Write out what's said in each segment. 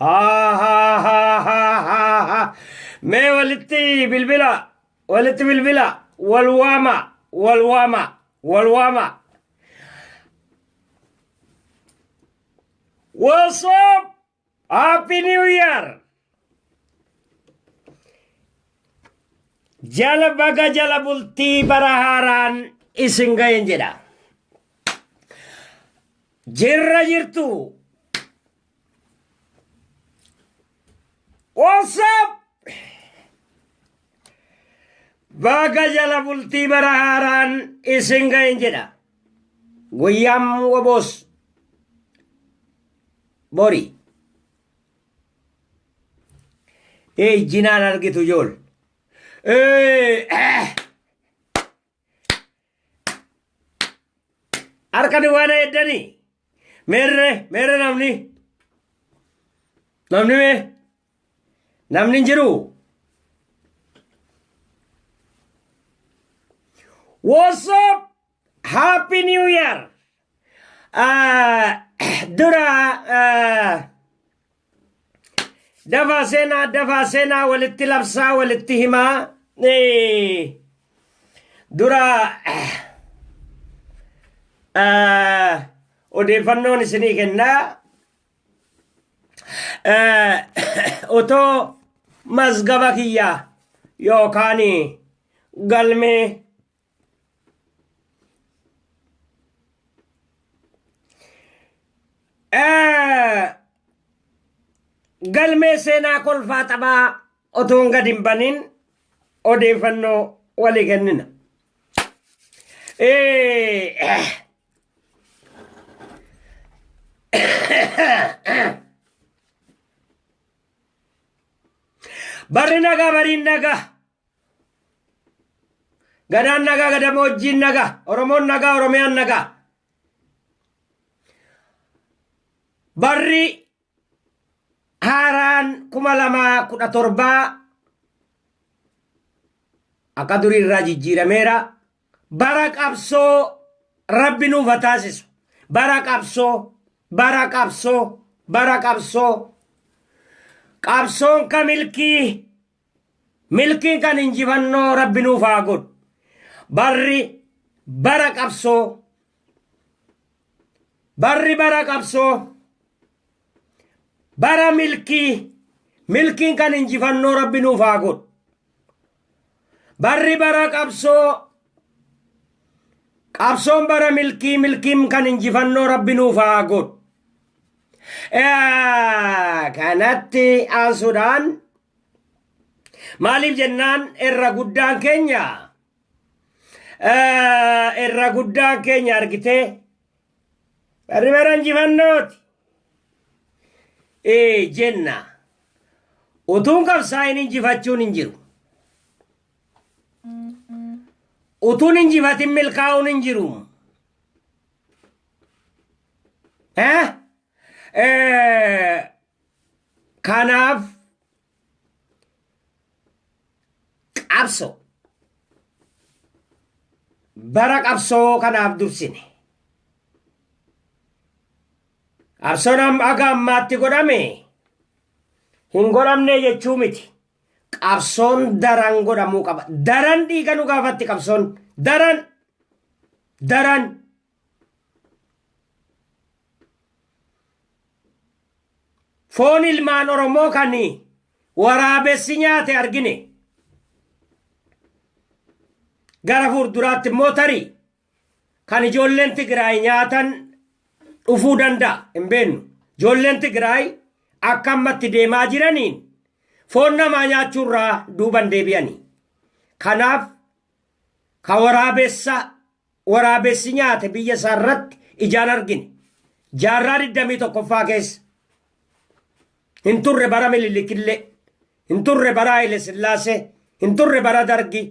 Ha ha ha ha ha ha. Mee walitti bilbila walitti bilbila wal waama wal waama wal waama. What's up? Happy New Year! Jala baga jala bultii bara haaraan isin ga'een jedha. Jirra jirtu. What's up? Baga jala bultii bara haaraan isin ga'een jedha. Guyyaan waboos bori. Ejjinaan argitu jool. Eh, eh. Harka duwwaa na eddanii. Meerre meerre namni. Namni mee. Namni hin jiru. What's up? Happy New Year! Dura dafaa seenaa dafaa seenaa walitti labsaa walitti himaa dura odeeffannoon isinii kennaa otoo mazgaba kiyyaa yookaan galmee galmee seenaa kolfaa taphaa otoon gad hin baniin odeeffannoo walii kennina. Barri nagaa bariin nagaa. Gadaan nagaa gadamoojjiin nagaa Oromoon nagaa Oromiyaan nagaa. Barri haaraan kuma lamaa kudha torbaa akka durii irraa jijjiirameera. Bara qabsoo rabbi nuuf haa taasisu. Bara qabsoo, bara qabsoo, bara qabsoo. Qabsoon ka milkii Milkii kan injifannoo Rabbi nuuf haa godhu. Barri bara qabsoo. Barri bara qabsoo. Bara milkii. Milkiin kan injifannoo Rabbi nuuf haa godhu. Barri bara qabsoo. Qabsoon bara milkii milkiin kan injifannoo Rabbi nuuf haa godhu. Kanatti aansuudhaan Maaliif jennaan irra guddaan keenya irra guddaan keenya argitee barri bara injifannooti ee jenna utuun qabsaa'in injifachuun hin jiru utuun injifatin milkaa'uun hin jiru Kanaaf qabsoo bara qabsoo kanaaf dursine. Qabsoon amma aga ammaatti godhame hin godhamne jechuu miti. Qabsoon daran godhamuu qaba. Daran dhiiga nu gaafatti qabsoon. Daran. Daran. Foon ilmaan Oromoo kan waraabessi nyaate argine. Gara fuulduraatti immoo tarii kan ijoolleen Tigraay nyaatan dhufuu danda'a hin beeknu. Ijoolleen Tigraay akka ammatti deemaa jiraniin foon namaa nyaachuurraa duuban deebi'ani. Kanaaf ka waraabessa waraabessi nyaate biyya isaa irratti ijaan argine. Jaarraa 21ffaa keessa. Hin turre bara Minilikillee. Hin turre bara Haile Sillaasee. Hin turre bara Dargii.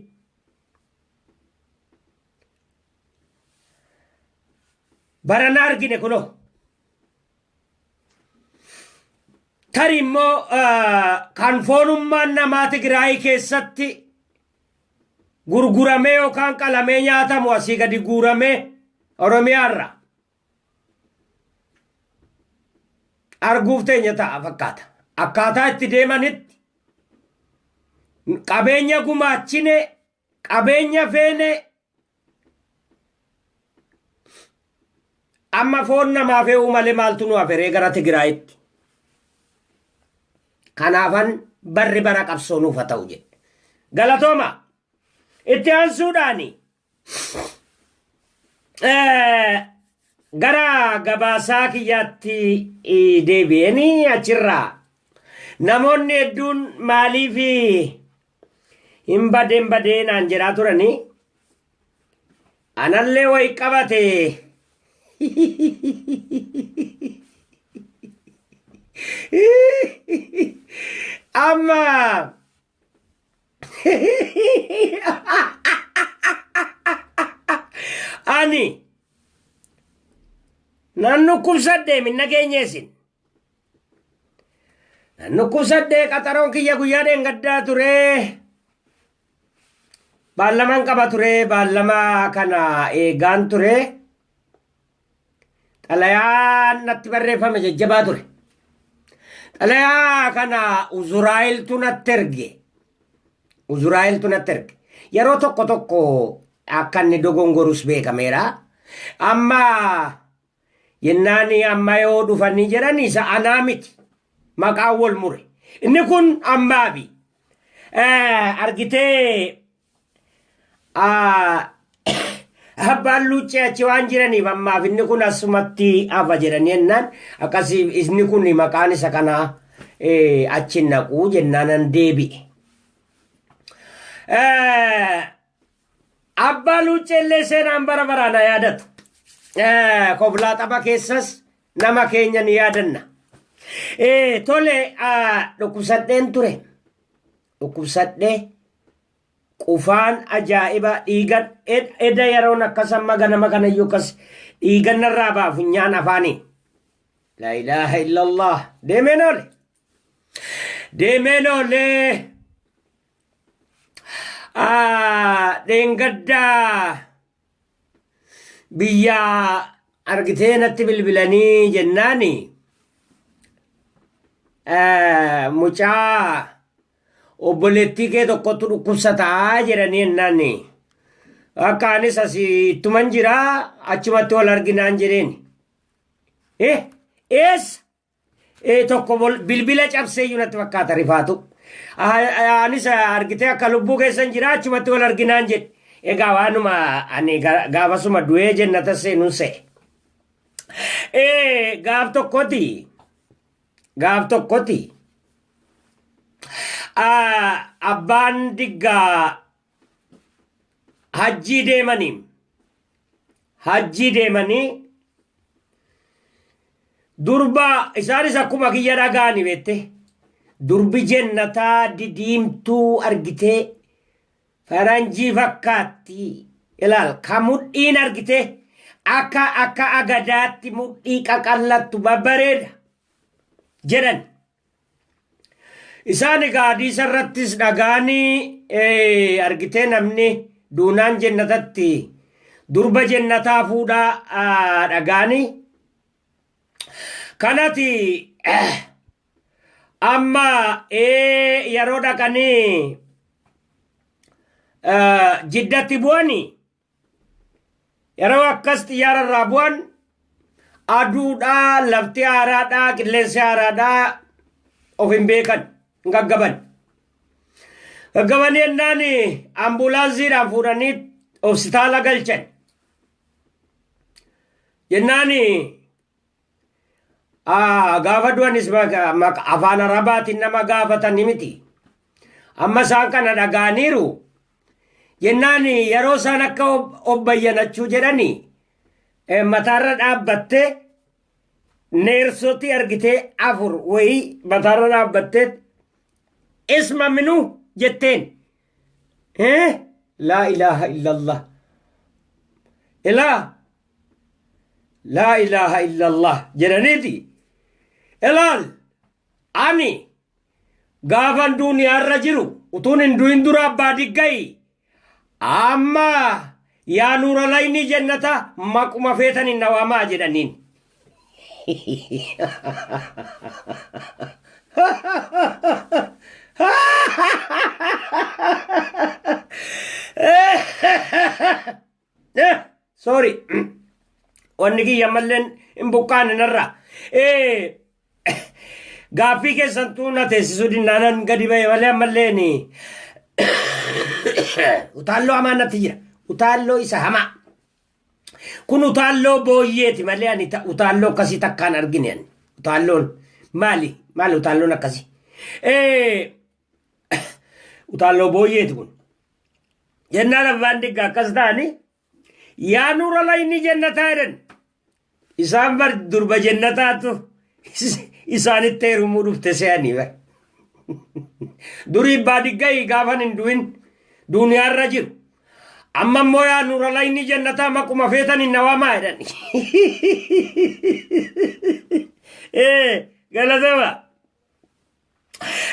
Bara na argine kunoo. Tari immoo kan foonummaan namaa Tigraayii keessatti gurguramee yookaan qalamee nyaatamu asii gadi guuramee Oromiyaa irraa arguuf teenya ta'a fakkaata. Akkaataa itti deemanitti qabeenya gumaachine qabeenya feene Amma foon namaa fe'uu malee maaltu nu haferee gara Tigraayitti. Kanaafan barri bara qabsoo nuuf haa ta'u jedhe. Galatooma. Itti aansuudhaani. gara gabaasaa kiyyaatti deebi'een achirraa namoonni hedduun maaliif hin badee hin badee naan jedhaa turanii anallee wayi qabate amma ani nan dhukkubsadhe minna keenyeesin Nan dhukkubsadhee qaxaroon kiyya guyyaa dheengaddaa ture. Baallamaan qaba ture baallamaa kana eegaan ture. Xalayaan natti barreeffame jajjabaa ture. Xalayaa kana Uzuraa'eltu natti erge. Uzuraa'eltu natti erge. Yeroo tokko tokko akka inni dogongorus beekameera. Amma Jennaan amma yoo dhufanii jedhan isa anaa miti. Maqaan wal mure. Inni kun ambaabi. Argitee abbaan luuccee achi waan jiraniif ammaaf inni kun asumatti hafa jedhanii jennaan akkasii inni kun maqaan isa kanaa achi naquu jennaanan deebi'e. Abbaa Luucceellee seenaan bara baraan haa yaadatu. Eh, Koblaa tapha keessas nama keenya ni yaadanna. Eh, Tole ah, dhukkubsadheen ture. Dhukkubsadhee qufaan ajaa'iba dhiigan ed- eda yeroon akkas amma ganama kanayyuu akkas dhiigan narraa ba'a funyaan afaanii. La ilaaha illallah deemeen oole. Deemeen oolee ah, dheengaddaa biyya argitee natti bilbilanii jennaani eh, mucaa obboleettii kee tokkotu dhukkubsataa jedhanii jennaani. Akka anis asii ittuman jira achumatti wal arginaan jedheen. Eh, eessa? ee tokko bol- bilbila cabsee iyyuu natti fakkaata rifaatu. Ah, Anis ah, argitee akka lubbuu keessan jira achumatti wal arginaan jedhe. Egaa waanuma ani ga- gaafasuma du'ee jennata seenuun se'e. Ee gaaf tokkoti gaaf tokkoti ah, abbaan diggaa hajjii deemanii hajjii deemanii durba isaanis akkuma kiyya dhagaani beette durbi jennataa didiimtuu argitee faranjii fakkaatti ilaal ka mudhiin argitee akka akka agadaatti mudhii qaqallattu babbareeda jedhan Isaan egaa hadiisa irrattis dhagaani eh, argitee namni duunaan jennatatti durba jennataa fuudha ah, dhagaani. Kanati eh, amma eh, yeroo dhaqanii eh, jiddatti bu'anii Yeroo akkas xiyyaara irraa bu'an aduudhaa, lafti haaraadhaa, qilleensi haaraadhaa of hin beekan, hin gaggaban. Gaggabanii ennaan ambulaansiidhaan fuudhanii hospitaala galchan. Jennaan Gaafa du'anis afaan arabaatiin nama gaafatanii miti. Amma isaan kana dhaga'aniiru. Jennaan yeroo isaan akka obbayyanachuu jedhanii mataarra dhaabbattee neersootti argitee afur wayii mataarra dhaabbattee isma minuu jetteen Eh laa ilaaha illallah. Ilaa laa ilaaha illallah jedhaniiti. Ilaal ani gaafan duuniyaarra jiru utuun hin du'in dura abbaa diggayi amma Yaa nuura laynii jennataa maquma feetaniin na waamaa jedhaniin. Sorry. Wanni kiyya malleen hin buqqaane narraa. Gaaffii keessantuu na teessisuu dinnaanan gadi ba'e malee ammallee ni utaalloo hamaa natti jira. Utaalloo isa hamaa. Kun utaalloo booyyeeti malee ani ta- utaalloo akkasii takkaan argine ani. Utaalloon maali? Maali utaalloon akkasii? Eh, Utaalloo booyyeeti kun. Jennaan abbaan digga akkas ta'anii Yaa nuura layni jennataa jedhan. Isaan bar durba jennataatu isaanitti heerumuu dhufte se'anii bar. Durii baadiggayii gaafan hin du'in duuniyaarra jiru. Amma immoo yaa nuura layni jennataa maquma feetan hin nawamaa jedhan. Ee galatama.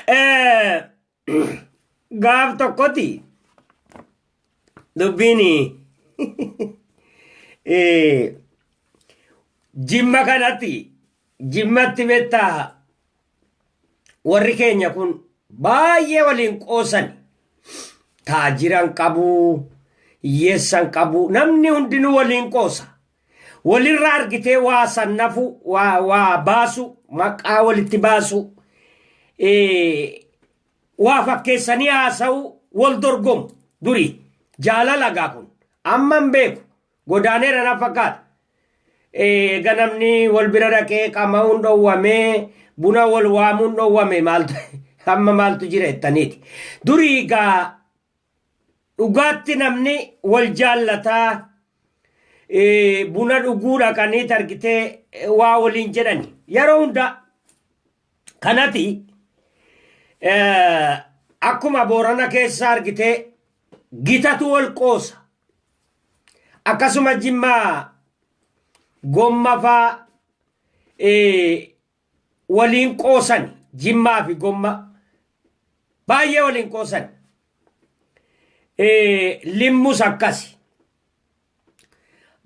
Ee. gaaf tokkoti dubbiin jimma kanatti jimmatti beektaa warri keenya kun baay'ee waliin qoosan taajiran qabu hiyyeessan qabu namni hundinuu waliin qoosa Walirra argitee waa sannafu waa waa baasu maqaa walitti baasu eh, waa fakkeessanii haasa'u wal dorgomu durii jaalala gaa kun amma hin beeku godaaneera na fakkaata. Eh, ganamni wal bira dhaqee qama'uun dhowwamee buna wal waamuun dhowwame maaltu amma maaltu jira jettaniiti. Durii gaa Dhugaatti namni wal jaallataa eh, buna dhuguu dhaqanii targitee eh, waa waliin jedhani. Yeroo hundaa kanati eh, akkuma boorana keessa argitee gitatu wal qoosa. Akkasuma jimmaa gomma faa eh, waliin qoosani jimmaa fi gommaa baay'ee waliin qoosani Eh, limmus akkasi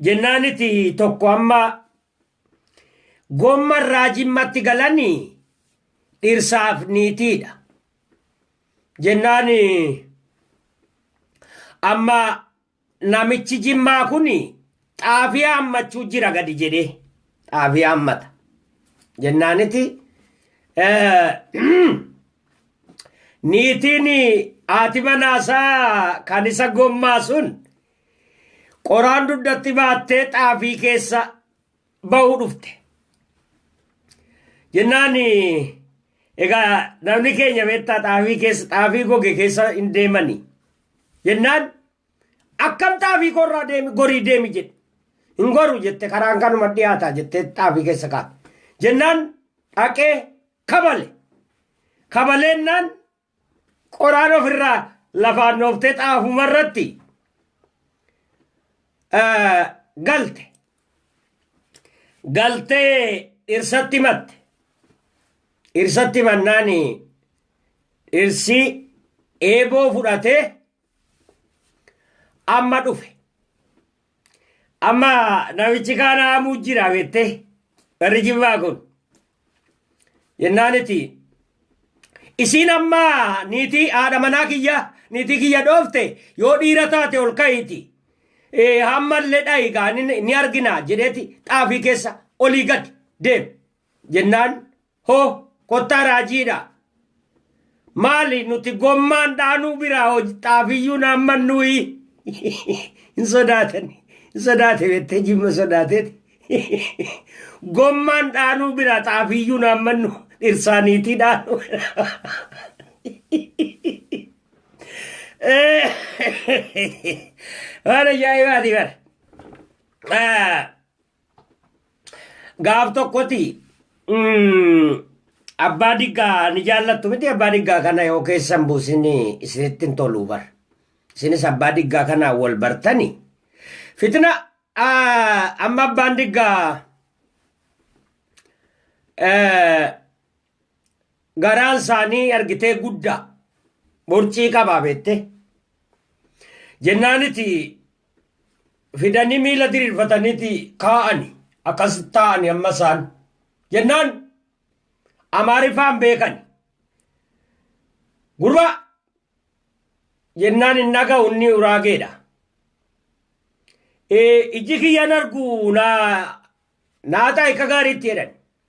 jennaaniti tokko amma gomma irraa jimmatti galani dhirsaaf niitiidha jennaani amma Namichi jimmaa kun xaafii haammachuu jira gadi jedhee xaafii haammata jennaaniti niitiin haati manaasaa kan isa gommaa sun qoraan dugdatti baattee xaafii keessa bahu dhufte. Jennaan egaa namni keenya beektaa xaafii keessa xaafii goge keessa hin deemani. Jennaan akkam xaafii korraa deemi gorii deemi jedhe. Hin goru jette karaan kanuma dhiyaataa jettee xaafii keessa kaa'e. Jennaan dhaqee kabale. Kabaleennaan Qoraan ofirraa lafaan dhooftee xaafuma irratti galte. Galtee dhirsatti himatte. Dhirsatti himannaan dhirsi eeboo fudhatee amma dhufe. Amma namichi kaan haamuu jira beettee barri jibbaa kun. Jennaan itti isiin amma niitii haadha manaa kiyya niitii kiyya dhoofte yoo dhiira taate ol ka'iiti. Eh, Hammallee dhayi gaa ni ni argina jedheeti xaafii keessa olii gad deem jennaan Hoo kottaa raajiidhaa. Maali nuti gommaan dhaanuu biraa hoj- xaafiyyuu naamman nuyi hin sodaatan hin sodaate bettee jimma sodaateeti. Gommaan dhaanuu biraa xaafiyyuu naamman nu dhirsaaniitii dhaanuu biraa. Waan ajaa'ibaati bara. Ah, Gaaf tokkoti mm, abbaa diggaa ni jaallattu miti abbaa diggaa kana yoo keessan buusin isinitti hin toluu bar. Isinis abbaa diggaa kana wal bartani. Fitina ah, amma abbaan diggaa eh, garaan isaanii argitee guddaa borcii qabaa beette jennaaniti fidanii miila diriirfataniiti kaa'ani akkas taa'ani amma isaan jennaan amaariffaan beekani gurba jennaan hin dhaga'u inni uraageedha ijji kiyyaan argu naa naa taa'e akka gaariitti jedhan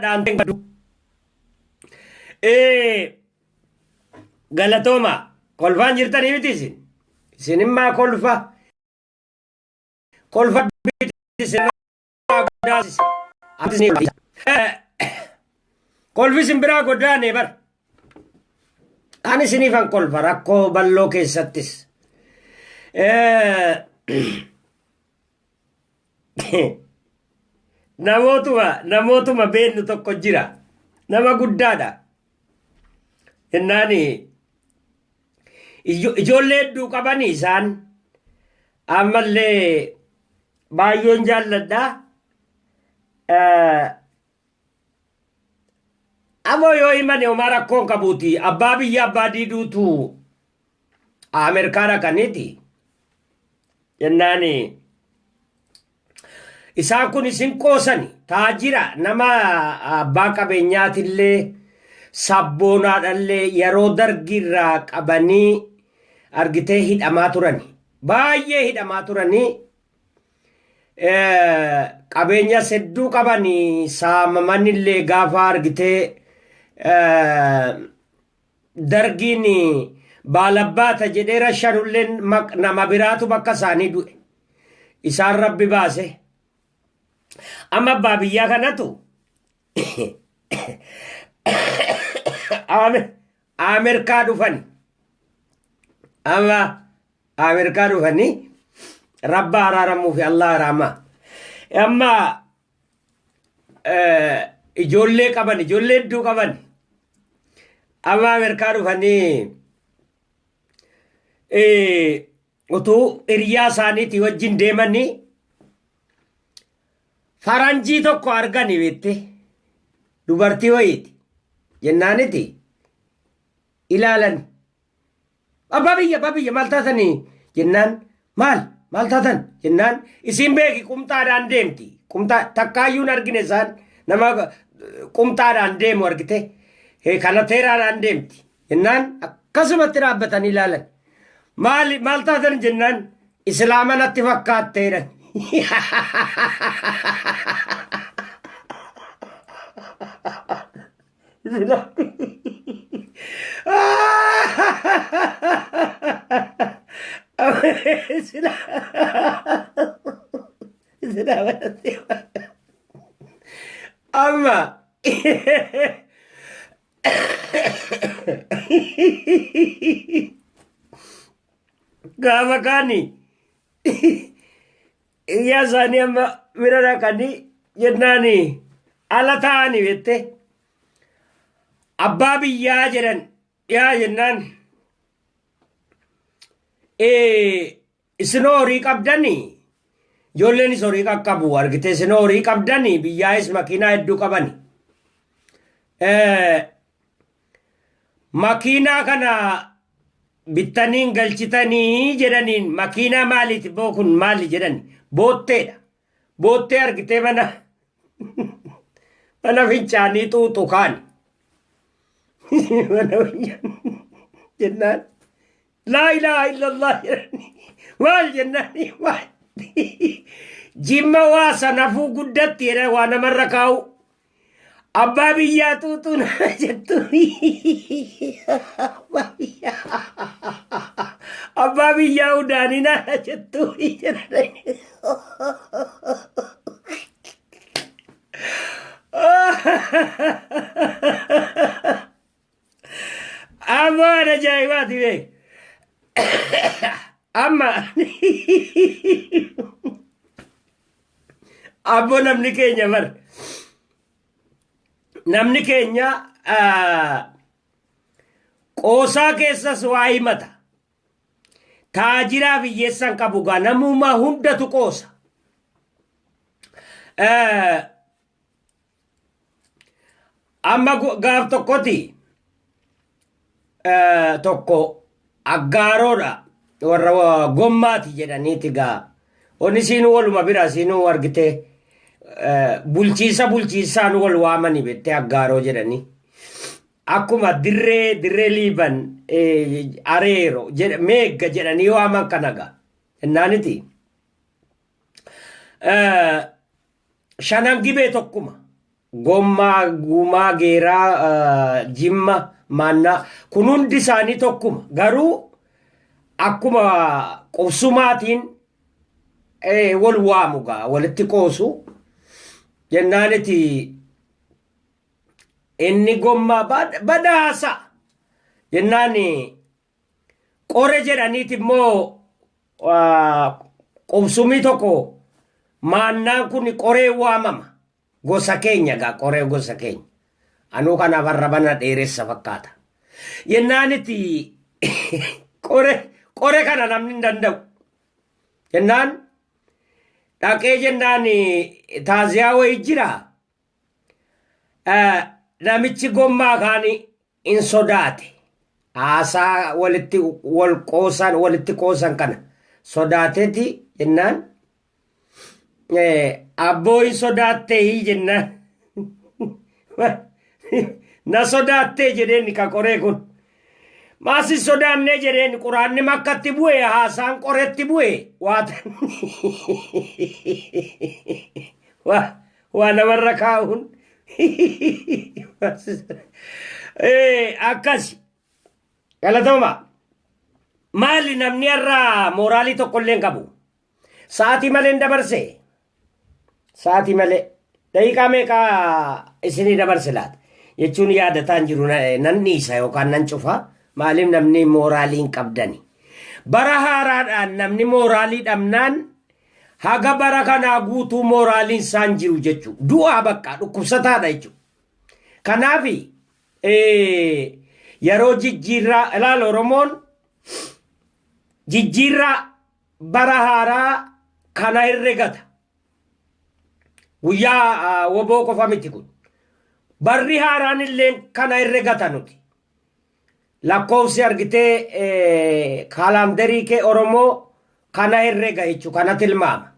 dhaamteen qabdu. Ee, Galatooma kolfaan jirtanii miti isin. Isin immaa kolfa. Kolfa biti isin guddaa sisi. Atis ni kolfisa. Eh, Kolfi isin biraa goddaa nee bar. Ani isiniifan kolfa rakkoo balloo keessattis. Eh, namootuma namootuma beennu tokko jira nama guddaadha jennaani ijo- ijoollee hedduu qabani isaan ammallee baay'een jaalladha Eh, Amoo yoo himane homaa rakkoon qabuuti abbaa biyya abbaa diiduutu Ameerikaa dhaqaniiti jennaani isaan kun isin qoosani taajira nama abbaa qabeenyaatillee sabboonaadhallee yeroo dargiirraa qabanii argitee hidhamaa turani baay'ee hidhamaa turanii qabeenyas hedduu qaban saamaman illee gaafa argitee dargiin baalabbaata jedhee rashanulleen maq- nama biraatu bakka isaanii du'e isaan rabbi baase amma abbaa biyyaa kanatu aame Amerkaa dhufani. Amma Amerkaa dhufani rabba araaramuu fi Allah araamaa. Amma eh, ijoollee qaban ijoollee hedduu qaban amma Amerkaa dhufanii eh, Utuu hiriyaa isaaniitii wajjin deemanii faranjii tokko argani beekte dubartii wayiiti jennaaniti ilaalan abbaa biyya abbaa biyya maal taatanii jennaan maal maal taatan jennaan isiin beeki qumxaadhaan deemti qumxaa takkaayyuun argine isaan nama qumxaadhaan deemu argite kanateeraadhaan deemti Jennaan akkasumatti dhaabbatanii ilaalan. Maali maal taatan jennaan islaama natti fakkaatte jedhan. Islaama natti fakkaate. Amma gaafa kaani iyyaa isaanii amma mira dhaqanii jennaani ala taa'ani jette abbaa biyyaa jedhan dhiyaa jennaan Isinoo horii qabdani ijoollenis horii qaqqabu argite isinoo horii qabdani biyyaayis makiinaa hedduu qabani. Eh, Makiinaa kana bittaniin galchitanii jedhaniin makiinaa maaliiti boo kun maali jedhani bootteedha. Boottee argitee mana mana fincaanii xuuxu kaan. Mana fincaanii jennaan laa ilaaha illallah jedhanii maal jennaanii maal jimma waa sanafuu guddatti jedhan waa namarra kaa'u Abbaa biyyaa tuutuu nama jettu. Abbaa biyyaa. Abbaa biyyaa udaanii nama jettu. Amaan ajaa'ibaati beek. Amma abbo namni keenya bar. Namni keenya ah, qoosaa keessas waa himata. Taajiraa biyyeessan qabu gaa namummaa hundatu qoosa. Eh, Amma gu- gaaf tokkoti eh, tokko aggaaroodha warra wa- gommaati jedhaniiti gaa onni siinuu waluma bira siinuu argite eh, bulchiinsa bulchiinsaan wal waamani bettee aggaaroo jedhanii akkuma dirree dirree liiban eh, areero jedha- meegga jedhanii waaman kana gaa innaaniti Shanan gibee tokkuma. Gommaa, Gumaa, Geeraa, Jimma, Maannaa kun hundi isaanii tokkuma. Garuu akkuma qubsumaatiin wal waamu gaa walitti qoosu jennaaniti inni gommaa badaasa jennaan Qore jedhaniiti immoo qubsumii tokko maannaan kun qoree waamama. Gosa keenya egaa qoree gosa keenya. Anuu kanaaf har'a bana dheeressa fakkaata. Jennaan itti qore qore kana namni hin danda'u. Jennaan dhaqee jennaan taaziyaa wayii jira. Namichi gommaa kaanii in sodaate. Haasaa walitti wal qoosan walitti qoosan kana sodaateeti jennaan abboo hin sodaattee hii jennaan na sodaattee jedheen ka qoree kun maas hin sodaannee jedheen quraanni makkatti bu'e haasaan qoretti bu'e waatan waa namarra kaa'uun Eh, akkasi galatoma maali namni irraa mooraalii tokko illee hin qabu sa'aatii malee hin dabarse sa'aatii malee daqiiqaa meeqa isinii dabarse laata jechuun yaadataan jiru na- nan dhiisa yookaan nan cufa maaliif namni mooraalii hin qabdani bara haaraadhaan namni mooraalii dhabnaan Haga bara kanaa guutuu mooraaliin isaa hin jiru jechuu. Du'aa bakka dhukkubsataadha jechuu. Kanaaf yeroo jijjiirraa ilaala Oromoon jijjiirraa bara haaraa kana herregata. Guyyaa woboo qofa miti kun. Barri haaraan illee kana herregata nuti. Lakkoofsi argitee kaalaandarii kee Oromoo kana herrega jechu kana tilmaama.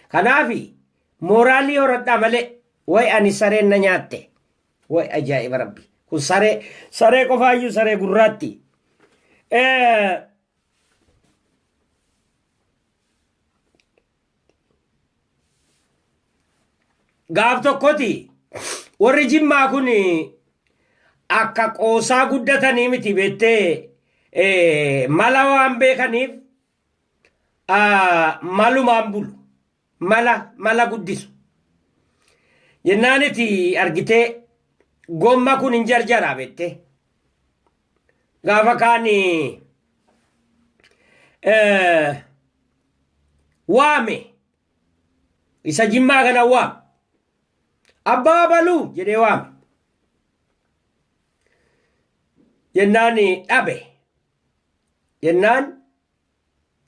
Kanaafi mooraalii horadhaa malee way ani sareen na nyaatte way ajaa'iba rabbi kun saree saree qofaayyuu saree gurraatti. gaaf tokkoti warri jimmaa kun akka qoosaa guddatanii miti beettee eh, mala waan beekaniif ah, malumaan bulu mala mala guddisu jennaaniti argitee gomma kun hin jarjaraa beettee gaafa kaani eh, waame isa jimmaa kana waame abbaa baluu jedhee waame jennaan dhabe jennaan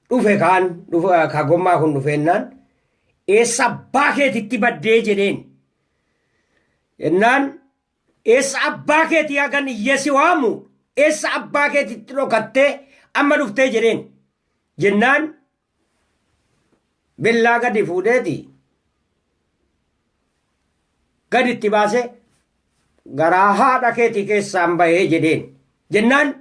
dhufe kaan dhufe- ka gommaa kun dhufeennaan eessa abbaa keetitti baddee jedheen jennaan Eessa abbaa keetii hagan iyyee si waamu eessa abbaa keetitti dhokattee amma dhuftee jedheen. Jennaan billaa gadi fuudheeti gadi itti baasee garaa haadha keetii keessaan bahee jedheen. Jennaan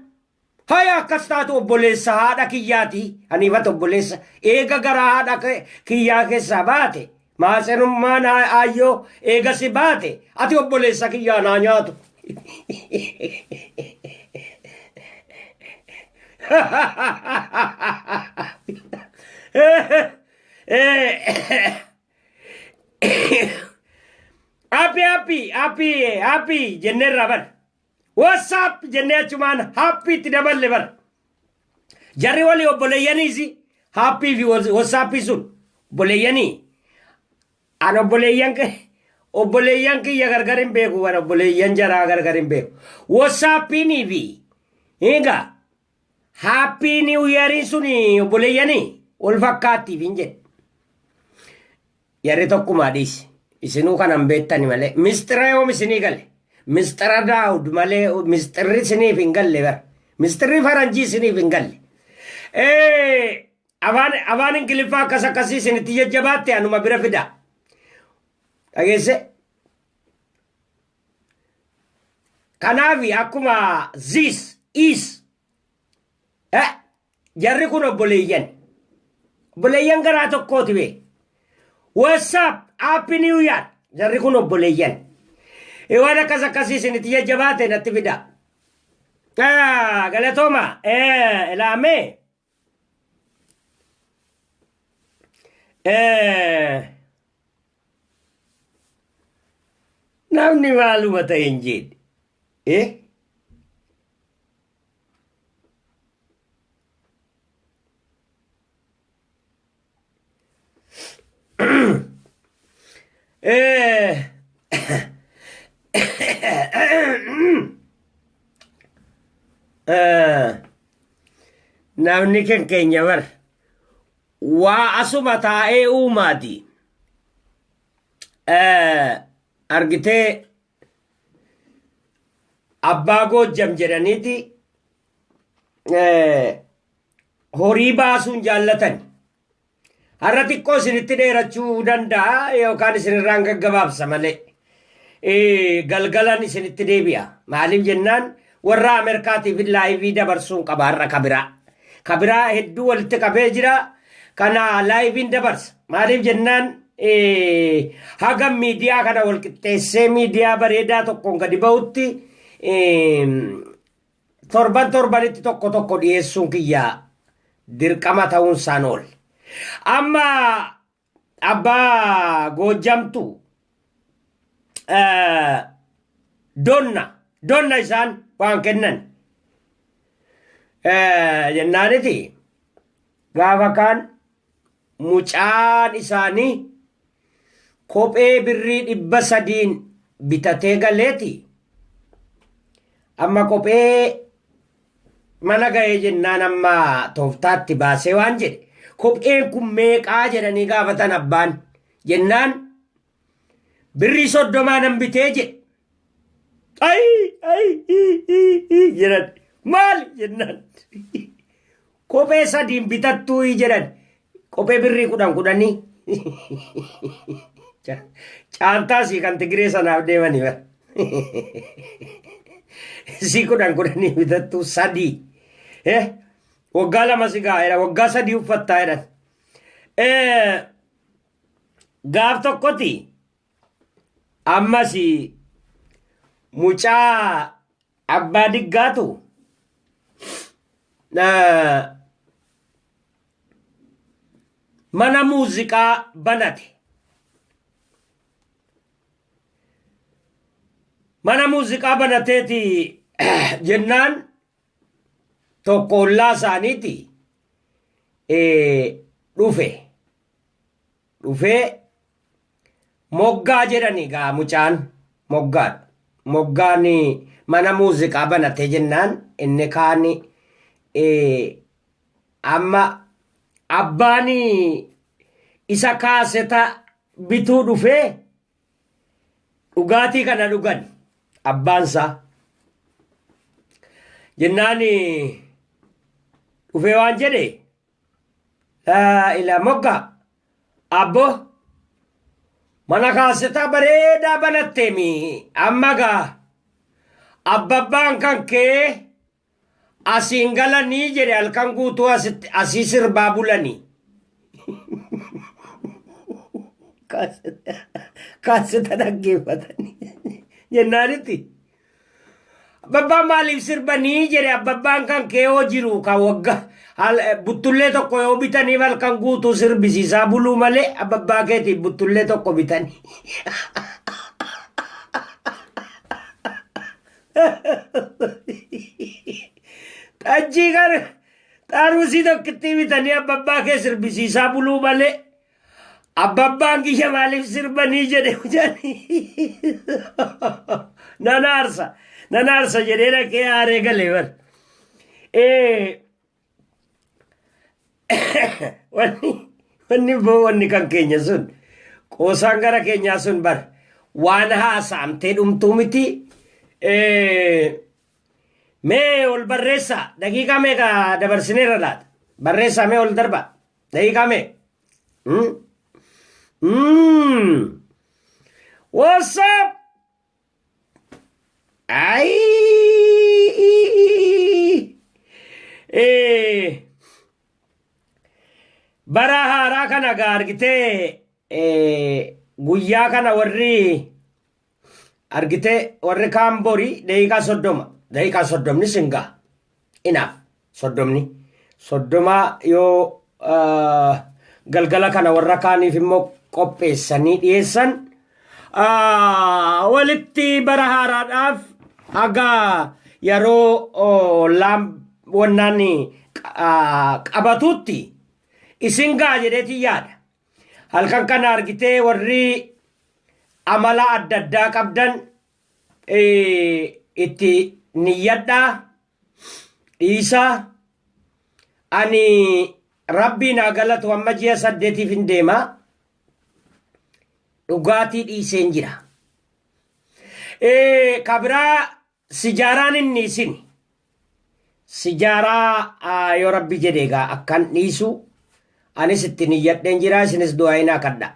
Haya akkas taatu obboleessa haadha kiyyaati haniifata obboleessa eega garaa haadha ke- kiyyaa keessaa baate maatsenummaan aa- aayyoo eega si baate ati obboleessa kiyyaa naa nyaatu. Happy happy happy happy jenneerraa bar. Whatsapp jennee achumaan haappii itti daballe bara. Jarri walii obboleeyyaniis haappii fi watsaappii sun obboleeyyanii an obboleeyyan obboleeyyan kiyya gargar hin beeku bara obboleeyyan jaraa gargar hin beeku. Watsaappiinii fi egaa Haappii niiw yeerii sun obboleeyyanii wal fakkaattiif hin jedhe. Yarri tokkumaa dhiisi. Isinuu kanan beektani malee. Misxira yoom isinii gale? Misxira daawud malee misxirri isiniif hin galle bara. Misxirri faranjii isiniif hin galle. Ee, afaan afaan ingiliffaa akkas akkasii isinitti jajjabaatte anuma bira fidaa. Dhageesse? Kanaaf akkuma zis, is, eh, jarri kun obboleeyyan. Obboleeyyan garaa tokkooti bee. WhatsApp, Happy New Year. Jarri kun obboleeyyan. Eh, Waan akkas akkasii isinitti jajjabaate natti fidaa. Ah, galatooma. Eh, ilaamee. namni maaluma ta'e hin jeedhe eh Eh. Eh. Namni kan keenya bar waa asuma taa'ee uumaati. Eh, Argitee abbaa goojjam jedhaniiti eh, horii baasuu hin jaallatani. Har'a xiqqoo isinitti dheerachuu danda'a yookaan isinirraan gaggabaabsa malee. Eh, Galgalan isinitti deebi'a. Maaliif jennaan warra Ameerikaatiif laayivii dabarsuun qaba har'a kabiraa. Kabiraa hedduu walitti qabee jira. Kana laayiviin dabarsa. Maaliif jennaan eh, haga miidiyaa kana wal qixxeessee miidiyaa bareedaa tokkoon gadi ba'utti eh, Torban torbanitti tokko tokko dhiyeessuun kiyya dirqama ta'uun isaan oole. Amma abbaa goojjamtu eh, donna donna isaan waan kennan Eh, jennaaniti gaafa kaan Mucaan isaanii kophee birrii dhibba sadiin bitatee galeeti amma kophee mana ga'ee jennaan amma tooftaatti baasee waan jedhe kopheen kun meeqaa jedhanii gaafatan abbaan jennaan Birrii soddomaa nan bitee jedhe. Ayi ayi ii ii ii jedhan. Maal jennaan. Kophee sadiin bitattuu ii jedhan. Kophee birrii kudhan kudhanii. Caaltaa sii kan Tigiree sanaaf deemanii bara. Sii kudhan kudhanii bitattuu sadii. Eh, waggaa lama si gaa'eera waggaa sadii uffattaa jedhan. Eh, gaaf tokkoti ammas mucaa abbaa diggaatu eh, mana muuziqaa banate. Mana muuziqaa banateeti jennaan tokko ollaa isaaniiti eh, dhufe. dhufee moggaa jedhani gaa mucaan moggaa moggaan mana muuziqaa banatee jennaan inni kaan amma abbaan isa kaaseta bituu dhufee dhugaatii kana dhugan abbaansaa jennaan dhufee waan jedhe Laa ila mogga abbo mana kaaseta bareedaa banattemi amma gaa abbabbaan kan kee asiin galanii jedhe halkan guutuu asitti asii sirbaa bulanii kaaseta dhaggeeffatanii jennaanitti Abbabbaan maaliif sirba nii jedhe abbabbaan kan keewoo jiru kan wagga hal- eh, buttullee tokko yoo bitaniif halkan guutuu sirbisiisaa buluu malee abbabbaa keetiif buttullee tokko bitanii. Xajjii kan xaarusii tokkittii bitanii abbabbaa kee sirbisiisaa buluu malee Abbabbaan kiyya maaliif sirbanii jedhe hojjani. Nan aarsa. Nan aarsa jedhee dhaqee aaree galee bar. Eh, wanni wanni boo wanni kan keenya sun qoosaan gara keenyaa sun bar waan haasa'amtee dhumtuu miti Eh, mee ol barreessaa daqiiqaa meeqa dabarsineera laata barreessaa mee ol darbaa Daqiiqaa mee? Mm. Mm. What's up? Ayii. Eh. Bara haaraa kana gaa argitee eh, guyyaa kana warri argitee warri kaan borii daqiiqaa soddoma daqiiqaa soddomni sin ga'a inaaf soddomni soddomaa yoo ah, galgala kana warra kaaniif immoo qopheessanii dhiyeessan ah, walitti bara haaraadhaaf haga yeroo oh, laam wannaan ah, qabatuutti isin ga'a jedheetiin yaada Halkan kana argitee warri amala adda addaa qabdan itti niyyadhaa dhiisaa ani rabbii naa galatu amma ji'a saddeetiif hin deema dhugaatii dhiiseen jira. Kabiraa Sijaaraan inni isin. Sijaaraa yoo rabbi jedhe egaa akkan dhiisu anis itti niyyadheen jira isinis du'aayinaa kadha.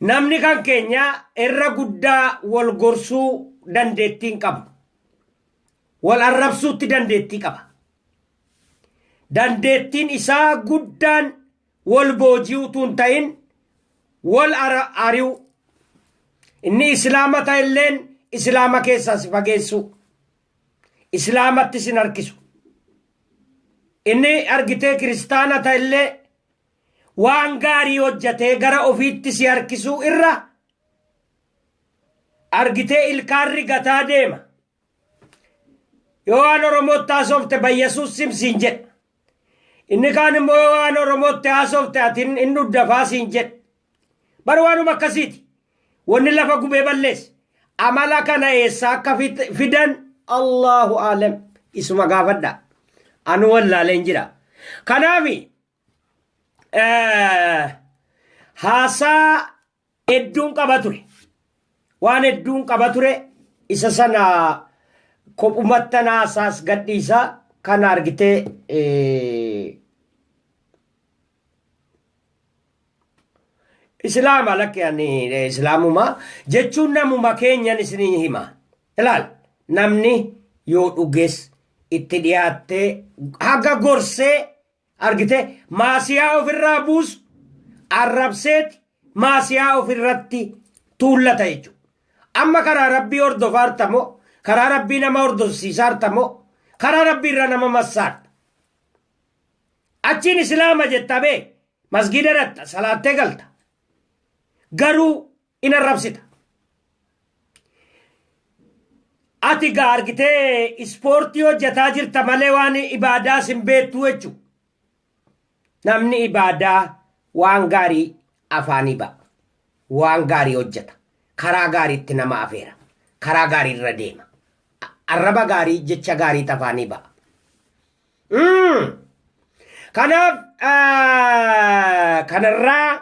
Namni kan keenya irra guddaa wal gorsuu dandeettii hin qabu. Wal arrabsuutti dandeettii qaba. Dandeettiin isaa guddaan wol booji'uu utuu hin ta'in wol ara- ari'uu. Inni Islaama ta'e illeen Islaama keessaa si fageessuu. Islaamatti sin harkisu. Inni argitee kiristaana ta'e illee waan gaarii hojjatee gara ofiitti si harkisuu irra argitee ilkaan rigataa deema. Yoo waan Oromootti haasofte Bayyasuus sim siin jedha. Inni kaan immoo yoo waan Oromootti haasofte ati hin hin dhuddafaa siin jedha. Bar waanuma akkasiiti. Wanni lafa gubee balleesse. Amala kana eessaa akka fit- fidan Allahu aalam isuma gaafadha. Anu wallaaleen jira. Kanaafi eh, haasaa Hedduun qaba ture. Waan hedduun qaba ture isa sana kophumattan haasaas gadhiisa kan argite Islaama lakki ani islaamuma jechuun namuma keenyan isinii hima. Ilaal namni yoo dhuges itti dhiyaattee haga gorsee Argitee? Maasiyaa of irraa buusu, arrabseeti maasiyaa of irratti tuullata jechuudha. Amma karaa Rabbii hordofaarta moo? Karaa Rabbii nama hordofsiisaarta moo? Karaa Rabbii irra nama massaarta. Achiin Islaama jetta bee, masgiida dhaqxa, salaattee galta. Garuu in arrabsita. Ati gaa argitee ispoortii hojjetaa jirta malee waan ibaadaa sin beektuu jechuudha. Namni ibaadaa waan gaarii afaanii ba'a. Waan gaarii hojjeta. Karaa gaariitti nama afeera. Karaa gaarii irra deema. Arraba gaarii jecha gaarii afaanii ba'a. Kanaaf kanarraa